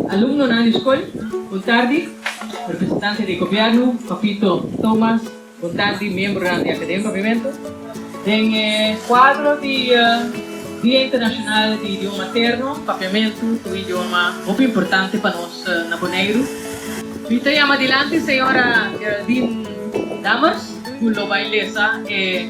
Alumnonan di skol, Bon tardi, representante di gobièrnu, Papito Thomas, Bon tardi, miembronan di Akademi Papiamentu. Den e kuadro di Dia Internashonal di Idioma Materno, Papiamentu ta un idioma hopi importante pa nos na Boneiru. Mi ta yama dilanti señora Geraldine Dammers, cu lo bay lesa e.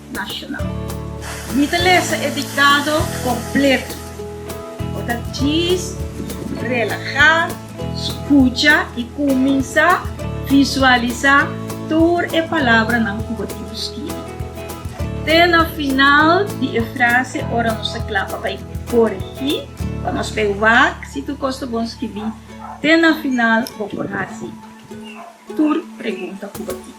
Nacional. Mi ta lesa e dictado completo. Bo ta djis, relaha, scucha y cuminsa visualisa tur e palabranan cu bo tin scribi. Te na final di e frase ora nos ta cla pa bay coregi, pa nos bay wak si tur cos ta bon scribi, te na final bo por haci. tur pregunta ku bo tin.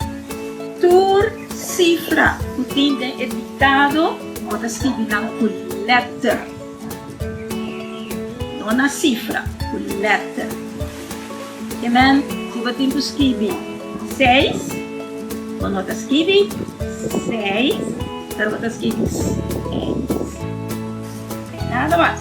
Tur sifra ku tin den e diktado bo ta skibi nan ku lèter, no na sifra, ku lèter. Ke men si bo tin ku skibi seis, bo no ta skibi seis, pero bo ta skibi seis. Nada mas.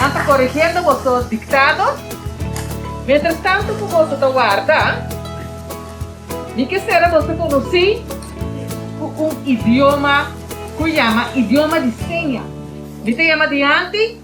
Nan ta korigiendo boso diktado. Mientras tanto ku boso ta warda, mi kisera boso konosí ku un idioma ku yama idioma di seña. Mi ta yama dianti.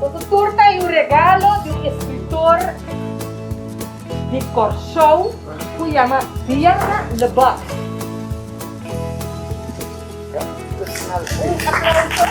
Boso tur ta e un regalo di un eskritor di Kòrsou ku yama Diana Lebak. Un aplauso.